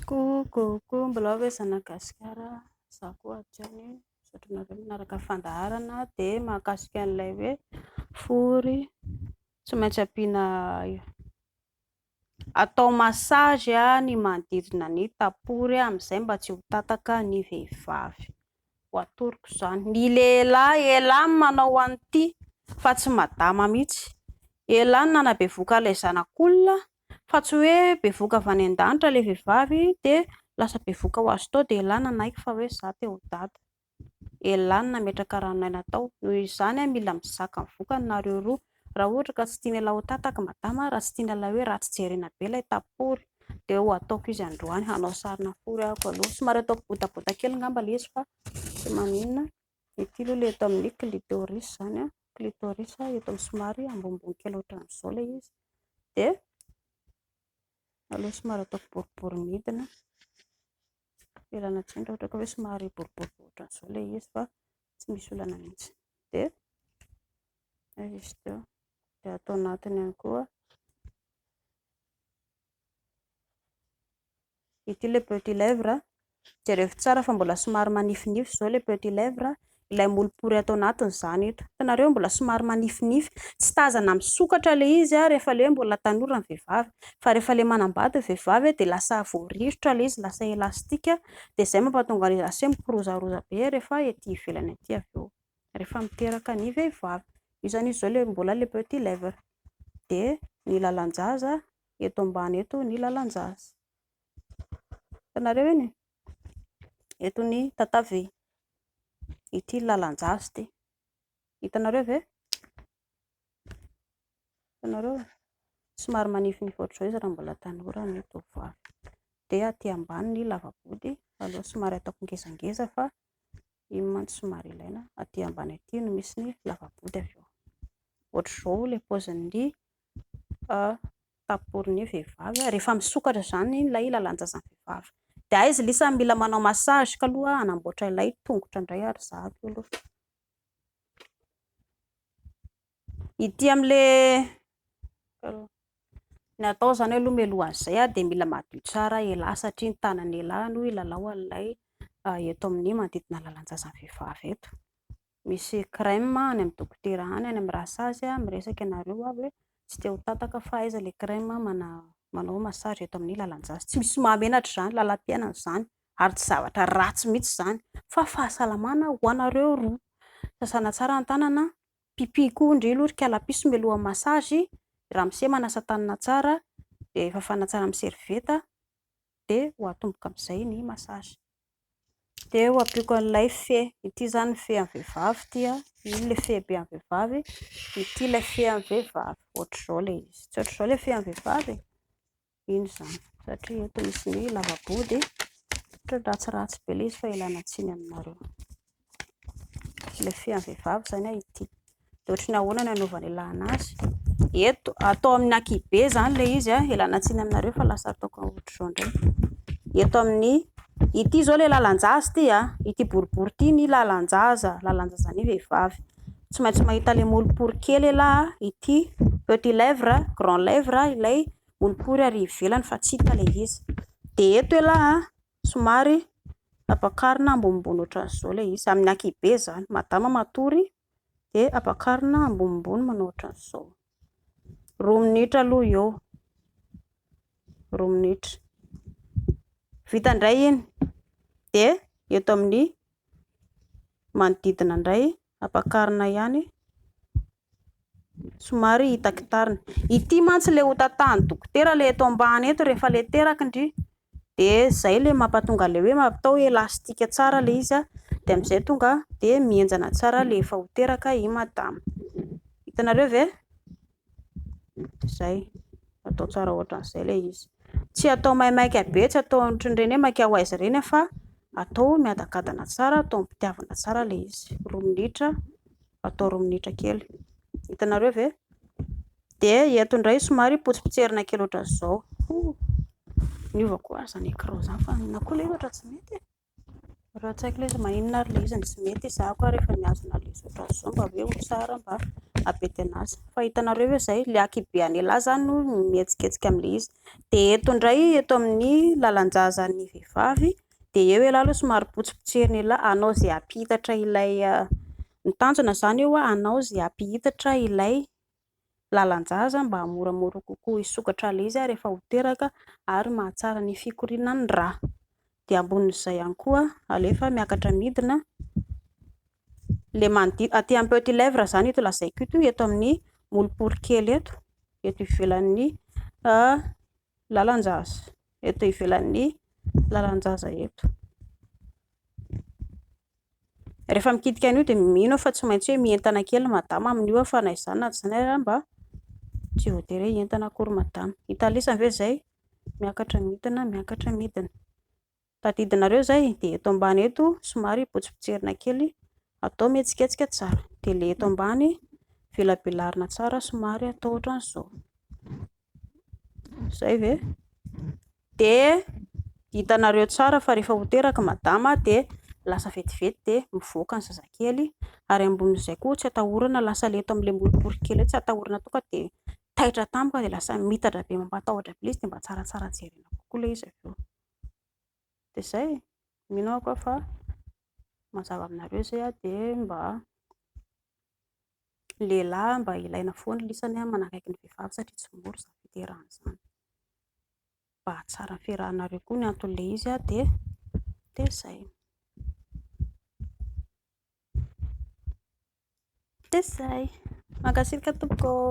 Coucoucou mbola ve zanak'i Gasikara a, za koa aty ihany e, misaotra anareo manaraka ny fandaharana dia mahakasika an'ilay hoe fory tsy maintsy ampiana atao massage ny manodidina ny tapory amin'izay mba tsy ho tataka ny vehivavy, ho atoroko izany, ny lehilahy ela ny manao an'ity fa tsy madama mihintsy, ela ny nanabevoka ilay zanak'olona fa tsy hoe bevoka avy any an-danitra ilay vehivavy dia lasa bevoka ho azy tao dia elah nanaiky fa hoe za te ho dada, elah ny nametraka ranon'aina tao, noho izany mila mizaka ny vokany nareo roa, raha ohatra ka tsy tian'ialahy ho tataky madama, raha tsy tian'ialahy hoe ratsy jerena be ilay tapory dia ho ataoko izy androany hanao sarina fory ahako aloha, somary ataoko botabota kely ngamba ilay izy fa tsy maninona. Ity aloha ilay eto amin'ny clitoris izany, clitoris eto amin'ny somary ambonimbony kely ohatran'izao ilay izy. Dia aleo somary ataoko boribory midina, velana tsindry ohatra ka hoe somary boribory ohatran'izao ilay izy fa tsy misy olana mihitsy. Dia avy izy teo, dia ato anatiny ihany koa. Ity ilay petit lèvre, jerevo tsara fa mbola somary manifinify izao ilay petit lèvre, ilay molopory ato anatiny izany eto, hitanareo mbola somary manifinify, tsy tazana misokatra ilay izy rehefa ilay hoe mbola tanora ny vehivavy, fa rehefa ilay manambady ny vehivavy dia lasa voarirotra ilay izy, lasa elastika, dia izay mampahatonga an'izy lasa hoe mikirozaroza be rehefa ety ivelany ety avy eo, rehefa miteraka ny vehivavy, io izany izy izao ilay mbola ilay petit lèvre, dia ny lalan-jaza eto ambany eto ny lalan-jaza. Hitanareo eny e? Eto ny tatavy. Ity ny lalan-jaza ity. Hitanareo ve? Hitanareo? Somary manifinify ohatr'izao izy raha mbola tanora ny tovovavy. Dia aty ambany ny lava-body, aloha somary ataoko ngezangeza fa Iny mantsy somary ilaina, aty ambany aty no misy ny lava-body avy eo. Ohatr'izao ilay paozin'ny taporin'ny vehivavy rehefa misokatra izany ilay lalan-tsasany vehivavy. Dia hay izy lisa mila manao massage ka aloha hanamboatra ilay tongotra indray ary za avy eo aloha. Ity amle ny atao izany aloha mialohan'ny izay dia mila madio tsara ialahy satria ny tanan'ny ialahy no hilalao an'ilay eto amin'ny manodidina ny lalan-tsasany vehivavy eto. Misy crème any amin'ny dokotera any, any amin'ny rasazy miresaka ianareo avy hoe tsy te ho tataka fa aiza ilay crème manao massage eto amin'ny lalan-tsasany. Tsy misy mahamenatra izany, lalam-piainana izany ary tsy zavatra ratsy mihitsy izany fa fahasalamana ho anareo roa. Sasana tsara ny tanana Pipy koa ndry aloha ry kalapiso mialoha massage, ramose manasa tanana tsara dia fafana tsara amin'ny serviette dia ho atomboka amin'izay ny massage. Dia ho ampiako an'ilay fe, ity izany ny fean'ny vehivavy ity an, iny ilay fehibe an'ny vehivavy, ity ilay fean'ny vehivavy, ohatr'izao ilay izy, tsy ohatr'izao ilay fean'ny vehivavy e. Eny izany, satria eto misy ny hoe lavabo dia ohatran'ny ratsiratsy be ilay izy fa ialana tsiny aminareo. Ilay fean'ny vehivavy izany ity. Dia ohatry ny ahoana no anaovana ialana azy. Eto, atao amin'ny ankihibe izany ilay izy, ialana tsiny aminareo fa lasa ataoko ohatr'izao indray. Eto amin'ny, ity izao ilay lalan-jaza ity, ity boribory ity ny lalan-jaza, lalan-jazan'ny vehivavy. Tsy maintsy mahita ilay molopory kely ialahy, ity petit lèvre, grand lèvre ilay boribory ary ivelany fa tsy hita ilay izy. Dia eto elah somary ampakarina ambonimbony ohatran'izao ilay izy, amin'ny ankihibe izany. Madama matory dia ampakarina ambonimbony manao ohatran'izao. Roa minitra aloha eo, roa minitra. Vita indray iny dia eto amin'ny manodidina indray Ampakarina ihany somary hitakitarina. Ity mantsy ilay hotantahan'ny dokotera ilay eto ambany eto rehefa ilay teraky ndry dia izay ilay mampatonga ilay hoe atao elastika tsara ilay izy dia amin'izay tonga dia mihenjana tsara ilay efa ho teraka i madama. Hitanareo ve? Izay. Atao tsara ohatran'izay ilay izy. Tsy atao maimaika be, tsy atao ohatran'ireny hoe maika ho aiza ireny fa atao miadakadana tsara, atao am-pitiavana tsara ilay izy. Roa minitra, atao roa minitra kely. Hitanareo ve? Dia eto indray somary potsipotserina kely ohatran'izao. Niova koa ary izany écran izany fa inona koa ilay izy ohatran'ny tsy mety e? Raha tsy haiko ilay izy maninona ary ilay izy no tsy mety, izaho koa rehefa mihazona an'ilay zotrazy izao mba hoe ho tsara mba hampidina azy. Fa hitanareo ve izay, ilay ankihibe an'ialahy izany hono no mihetsiketsika amin'ilay izy. Dia eto indray, eto amin'ny lalan-jazan'ny vehivavy, dia eo ialahy aloha somary potsipotsirin'ialahy, hanao izay hampihitatra ilay, ny tanjona izany eo hoe hanao izay hampihitatra ilay. lalan-jaza mba hahamoramora kokoa hisokatra ilay izy rehefa ho teraka ary mahatsara ny fikoriana ny rà. Dia ambonin'izay ihany koa alefa miakatra midina ilay manodidina, aty amin'ny petit lèvre izany ito lazaiko ito, eto amin'ny molopolo kely eto, eto ivelan'ny lalan-jaza eto ivelan'ny lalan-jaza eto. Rehefa mikitika an'io dia mino aho fa tsy maintsy hoe mientana kely madama amin'io aho fa na izany na tsy izany ary mba tsy voatery hoe hientana akory madama. Hita lesany ve izay? Miakatra midina, miakatra midina. Tadidinareo izay dia eto ambany eto somary potsipotserina kely atao mihetsiketsika tsara dia ilay eto ambany velabelarina tsara somary atao ohatran'izao izay ve dia hitanareo tsara fa rehefa ho teraka madama dia lasa vetivety dia mivoaka ny zazakely ary ambonin'izay koa tsy atahorana lasa ilay eto amin'ilay moripory kely eo tsy atahorana tonga dia taitra tampoka dia lasa mitatra be mampatahotra be ilay izy dia mba tsaratsara jerena kokoa ilay izy avy eo dia izay e, mino aho koa fa mazava aminareo izay an, dia mba ny lehilahy mba ilaina foana ny lisany manakaiky ny vehivavy satria tsy mora izany fiterahana izany, mba hahatsara ny fiarahanareo koa ny anton'ilay izy an, dia izay, dia izay, mankasitraka tompoko ô.